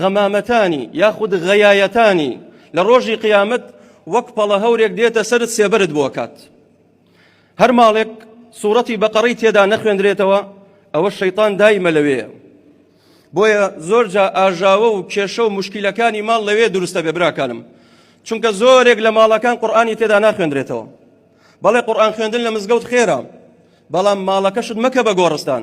غەمامەتانی یاخود غەیایەتانی لە ڕۆژی قیامەت وەک پەڵە هەورێک دێتە سەرت سێبەرت بۆ کات هەر ماڵێک سوورەتی بەقەڕی تێدا نەخوێندرێتەوە ئەوە شەیتان دایمە لەوەیە بۆیە زۆرجا ئاژاوە و کێشە و مشکیلەکانی ماڵ لەوێ دروستە بێ براکانم چونکە زۆرێک لە ماڵەکان قورآانی تێدا ناخوێندرێتەوە بەڵێ قورآان خوێندن لە مزگەوت خێرە بەڵام ماڵەکەشت مەکە بە گۆڕستان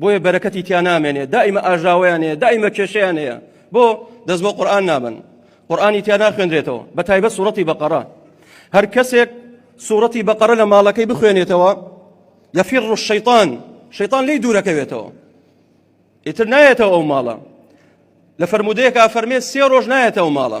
بۆیە بەرەکەتی تیا نامێنێ دائیمە ئاژاوەیان هەیە دائیمە کێشیان هەیە بۆ دەست بۆ قورآن نابن قورآانی تیا ناخوێنرێتەوە بە تایبە سوورەتی بەقەرە هەر کەسێک سوورەتی بەقەرە لە ماڵەکەی بخوێنێتەوە یەفیر ڕوش شەیطان شەیطان لی دوورەکەوێتەوە ئیتر نایەتەوە ئەو ماڵە لە فرەرمودەیەکە فەرمێ سێ ڕۆژ نایەتەوە ماڵە